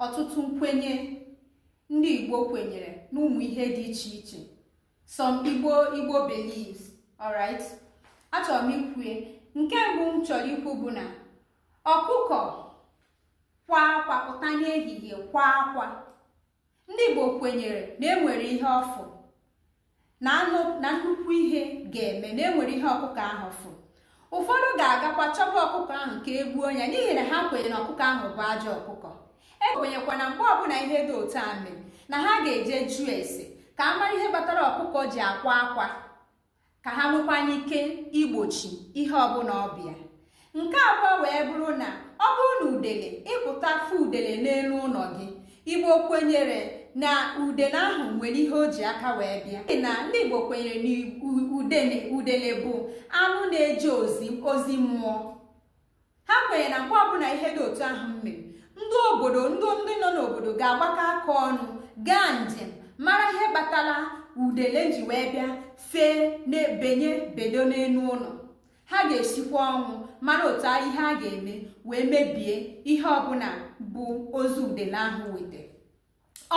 ọtụtụ nkwenye ndị Igbo kwenyere n'ụmụ ihe dị iche iche some Igbo beliefs alright achọrọ m ikwue nke mbụ m chọrọ ikwu bụ na ọkụkọ kwa akwa pụta n'ehihie kwa akwa ndị Igbo kwenyere na enwere ihe ọ fụ na nnukwu ihe ga-eme na enwere ihe ọkụkọ ahụ fụ ụfọdụ ga-agakwa chọba ọkụkọ ahụ ka e gbuo ya n'ihi na ha kwenyere na ọkụkọ ahụ bụ ajọ ọkụkọ e kwenyekwa na mgbe ọbụla ihe dị otu a mere na ha ga-eje jụọ ese ka a mara ihe kpatara ọkụkọ ji akwa akwa ka ha nwekwanye ike igbochi ihe ọbụla ọ bịa nke abụọ wee bụrụ na ọ bụrụ na udele ị pụta fụ udele n'elu ụlọ gị igbo kwenyere na udele ahụ nwere ihe o ji aka wee bịa na ndị igbo kwenyere na udele bụ anụ na-eje ozi ozi mmụọ ha kwenyere na mgbe ọbụla ihe dị otu ahụ mere ndị obodo ndị ndị nọ n'obodo ga-agbakọ aka ọnụ gaa njem mara ihe kpatara udele ji wee bịa fee na be onye bedo n'elu ụlọ ha ga-esikwa ọnwụ mara otu ihe a ga-eme wee mebie ihe ọbụla bụ ozi udele ahụ weta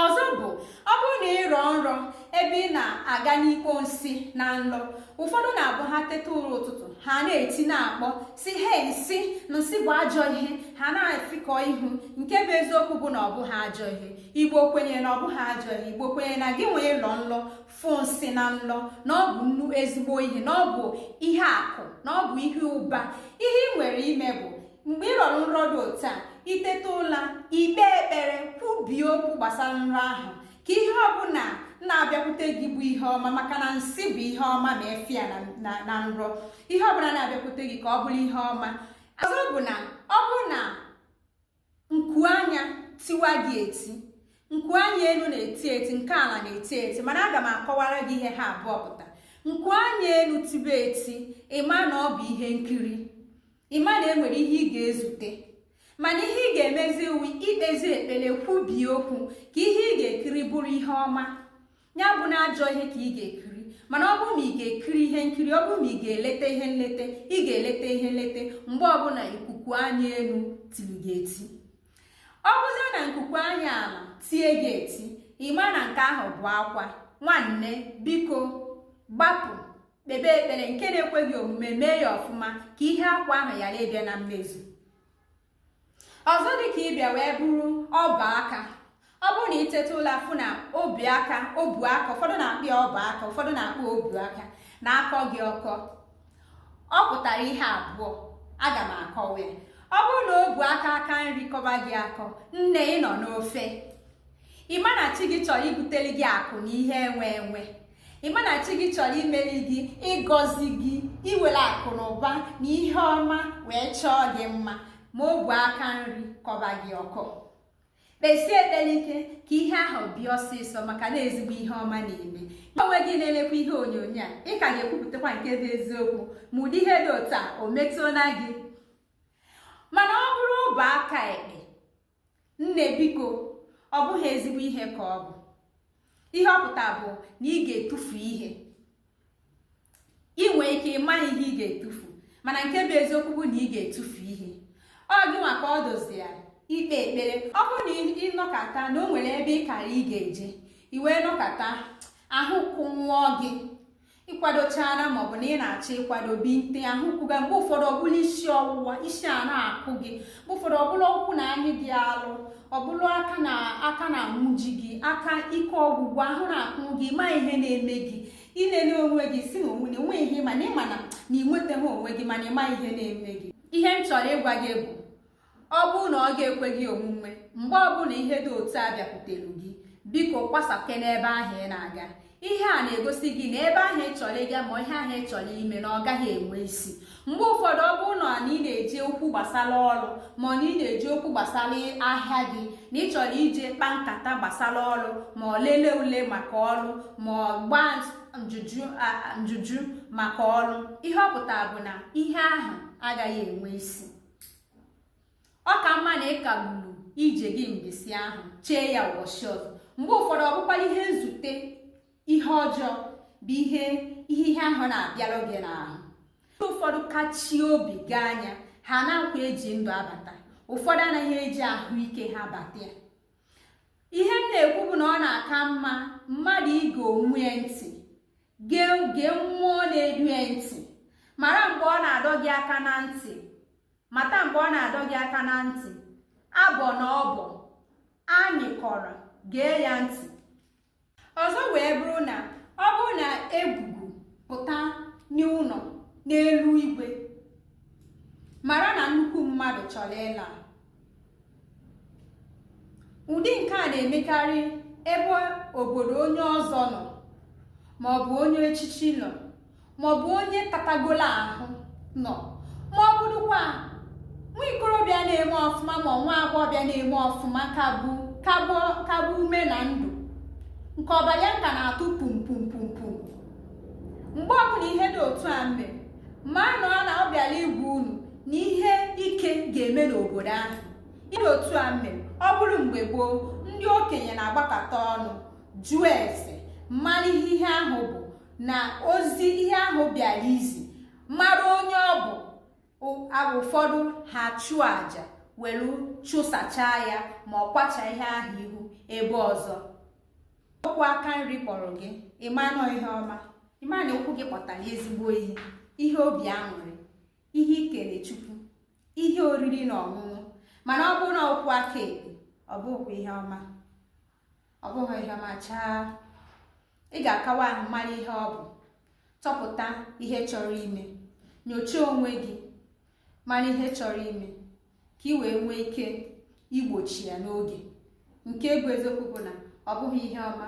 ọzọ bụ ọ bụrụ na ị rọọ nrọ ebe ị na-aga n'ikpo nsị na nlọ ụfọdụ na-abụ ha teta ụra ụtụtụ ha na-eti na-akpọ sị hei nsị nsị bụ ajọ ihe ha na-efikọ ihu nke bụ eziokwu bụ na ọ bụghị ajọ ihe igbo kwenye na ọ bụghị ajọ ihe igbo kwenye na gị nwa ịlọ nlọ fụ nsị na nlọ na ọ bụ nnọọ ezigbo ihe na ọ bụ ihe akụ na ọ bụ ihe ụba ihe ị nwere ime bụ mgbe ị rọrọ nrọ dị otu a i teta ụla i kpee ekpere kwubie okwu gbasara nrọ ahụ ka ihe ọbụla na-abịakwute gị bụ ihe ọma maka na nsị bụ ihe ọma ma ị fụ ya na nrọ ihe ọbụla na-abịakwute gị ka ọ bụrụ ihe ọma ọzọ bụ na ọ bụ na nku anya tiwa gị eti nku anya elu na-eti eti nke ala na-eti eti mana aga m akọwara gị ihe ha abụọ pụta nku anya elu tibe eti ị ma na ọ bụ ihe nkiri ị ma na enwere ihe ị ga-ezute mana ihe ị ga-emezi wụ ikpezi ekpere kwubie okwu ka ihe ị ga-ekiri bụrụ ihe ọma ya abụna ajọ ihe ka ị ga-ekiri mana ọ bụrụ ma ị ga-ekiri ihe nkiri ọ bụrụ ma ị ga-eleta ihe nleta ị ga-eleta ihe nleta mgbe ọbụla nkuku anya elu tiri gị eti ọ bụzie na nkuku anya ala tie gị eti ị ma na nke ahụ bụ akwa nwanne biko gbapụ kpebe ekpere nke na-ekweghị omume mee ya ọfụma ka ihe akwa ahụ ghara ịbịa na mmezu ọzọ dịka ịbịa wee bụrụ ọba aka ọ bụrụ na iteta ụla afụ na obi aka obu aka ụfọdụ na-akpọ ya ọba aka ụfọdụ na-akpọ obu aka na-akọ gị ọkọ ọ pụtara ihe abụọ aga m akọwa ya ọ bụrụ na obu aka aka nri kọba gị akọ nne ị nọ n'ofe ịma na chi gị chọrọ ibutere gị akụ na ihe enwe enwe ị ma na chi gị chọrọ imeri gị ịgọzi gị iwere akụ na ụba na ihe ọma wee chọọ gị mma ma obu aka nri kọba gị ọkọ kpesie ekpere ike ka ihe ahụ bịa ọsịsọ maka na ezigbo ihe ọma na-eme onwe gị na-elekwa ihe onyonyo a ị ka ga-ekwupụtakwa nke bụ eziokwu ma ụdị ihe dị otu a o metụla gị mana ọ bụrụ obu aka ekpe nne biko ọ bụghị ezigbo ihe ka ọ bụ ihe ọ pụta bụ na ị ga-etufu ihe ị nwee ike ị maghị ihe ị ga-etufu mana nke bụ eziokwu bụ na ị ga-etufu ihe ọ gị nwa ka ọ dozi ya ikpe ekpere ọ bụrụ na ị nọkata na o nwere ebe ị kara ị ga-eje i wee nọkata ahụ kụnwụọ gị ịkwadochara maọbụ na ị na-achọ ịkwado binite ahụ kwuga mgbe ụfọdụ ọ bụrụ isi ọwụwa isi a na-akụ gị mgbe ụfọdụ ọ bụrụ ụkwụ na-anyị gị alụ ọ bụrụ aka na-anwụji gị aka ike ọgwụgwụ ahụ na-akụ gị ma ihe na-eme gị ilele onwe gị si na onwe na enweghị ihe mana ịma na na ị nwetaghị onwe gị mana ịma ihe na-eme gị ihe m chọrọ ịgwa gị bụ ọ bụrụ na ọ ga-ekwe gị omume mgbe ọbụla ihe dị otu a bịakwutere gị biko kwụsịkene ebe ahụ ị na-aga ihe a na-egosi gị na ebe ahụ ị chọrọ ịga ma ihe ahụ ị chọrọ ime na ọ gaghị enwe isi mgbe ụfọdụ ọ bụrụ na ị na-eje okwu gbasara ọrụ ma na ị na-eje okwu gbasara ahịa gị na ị chọrọ ije kpaa nkata gbasara ọrụ ma ọ lelee ule maka ọrụ ma ọ gbaa njụjụ maka ọrụ ihe ọ pụtara bụ na ihe ahụ agaghị enwe isi ọ ka mma na ị kagburu ije gị mbọsị ahụ chee ya ụbọchị ọzọ mgbe ụfọdụ ọ bụkwara ihe nzute ihe ọjọọ bụ ihe ihe ihe ahụ na-abịara gị n'ahụ ndị ụfọdụ kachie obi gaa nya ha anaghịkwa eji ndụ abata ụfọdụ anaghị eji ahụike ha bata ya ihe m na-ekwu bụ na ọ na-aka mma mmadụ ige onwe ya ntị gee gee mmụọ na-edu ya ntị mara mgbe ọ na-adọ gị aka na ntị mata mgbe ọ na-adọ gị aka na ntị abọ na ọbọ anyị kọrọ gee ya ntị ọzọ wee bụrụ na ọ bụrụ na egwugwu pụta n'ụlọ n'elu igwe mara na nnukwu mmadụ chọrọ ịla ụdị nke a na-emekarị ebe obodo onye ọzọ nọ maọbụ onye echichi nọ maọbụ onye katagolo ahụ nọ maọbụ dịkwa nwa ikorobịa na-eme ọfụma ma nwa agbọghọbịa na-eme ọfụma ka bu ume na ndụ nke ọbara ya ka na-atụ pum pum pum pum mgbe ọbụla ihe dị otu a mere manụ na ọ bịara ịgwa unu na ihe ike ga-eme n'obodo ahụ ihe otu a mere ọ bụrụ mgbe gboo ndị okenye na-agbakọta ọnụ jụọ ese mara ihe ihe ahụ bụ na ozi ihe ahụ bịara izi mara onye ọ bụ ụfọdụ ha chụọ aja were chụsachaa ya ma ọ kwacha ihe ahụ ihu ebe ọzọ ụkwụ aka nri kpọrọ gị ịma na ọ ihe ọma ịma na ụkwụ gị kpọtara ezigbo ihe ihe obi aṅụrị ihe ikele chukwu ihe oriri na ọṅụṅụ mana ọ bụrụ na ụkwụ aka ekpe ọ bụghị ihe ọma ọ bụghị ihe ọma chaa ị ga-akawa ahụ mara ihe ọ bụ chọpụta ihe chọrọ ime nyochaa onwe gị mara ihe chọrọ ime ka ị wee nwee ike igbochi ya n'oge nke bụ eziokwu bụ na ọ bụghị ihe ọma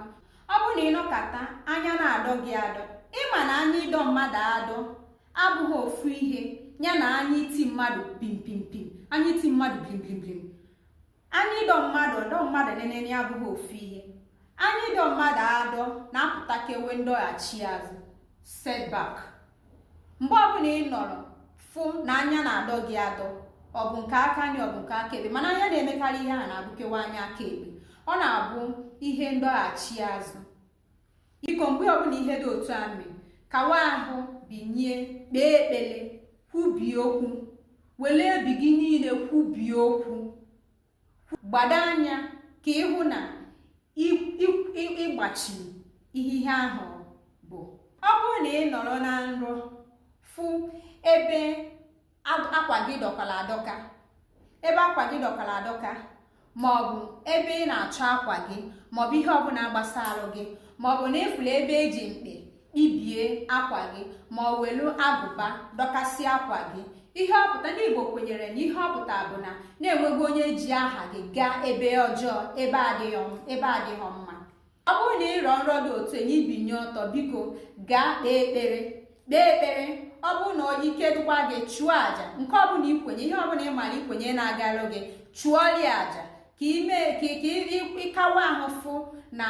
ọ bụrụ na ịnọkata anya na-adọ gị adọ ịma na anya ịdọ mmadụ adọ abụghị ofu ihe ya na anya iti mmadụ pimpimpim anya iti mmadụ blimblimblim anya ịdọ mmadụ ịdọ mmadụ nenene abụghị ofu ihe anya ịdọ mmadụ adọ na-apụtakewe ndọghachi azụ setback mgbe ọbụla ị nọrọ fụ na anya na-adọ gị adọ ọ bụ nke aka nri ọ bụ nke aka ekpe mana anya na-emekarị ihe a na-abụkewa anya aka ekpe ọ na-abụ ihe ndọghachi azụ biko mgbe ọbụla ihe dị otu a mere kawa ahụ binye kpee ekpele kwubie okwu were obi gị niile kwubie okwu gbado anya ka ịhụ na ịgbachi ihe ihe ahụ bụ ọ bụrụ na ị nọrọ na nrọ fụ ebe akwa gị dọkara adọka maọbụ ebe ị na-achọ akwa gị maọbụ ihe ọbụla gbasara gị maọbụ na ịfụla ebe eji mkpa ibie akwa gị ma ọ welu agụba dọkasịa akwa gị ihe ọpụta ndị igbo kwenyere na ihe ọpụta bụ na na enwego onye ji aha gị gaa ebe ọjọọ ebe adịghị mma ọ bụrụ na ịrọ nrọ dị otu enye ibinye ọtọ biko gaa kpee ekpere kpee ekpere ọ bụrụ na ike dịkwa gị chụọ àjà nke ọbụla ikwenye ihe ọbụla ị mara ikwenye na-agara gị chụọrị àjà ka ime ka ịkawa ahụ fụ na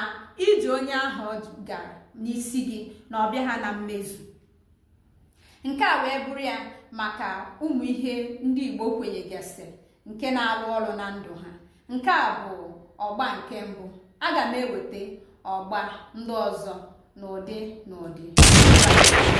ije onye ahụ gara n'isi gị na ọ bịaha na mmezu nke a wee bụrụ ya maka ụmụ ihe ndị Igbo kwenyegasị nke na-arụ ọrụ na ndụ ha nke a bụ ọgba nke mbụ aga m eweta ọgba ndị ọzọ n'ụdị n'ụdị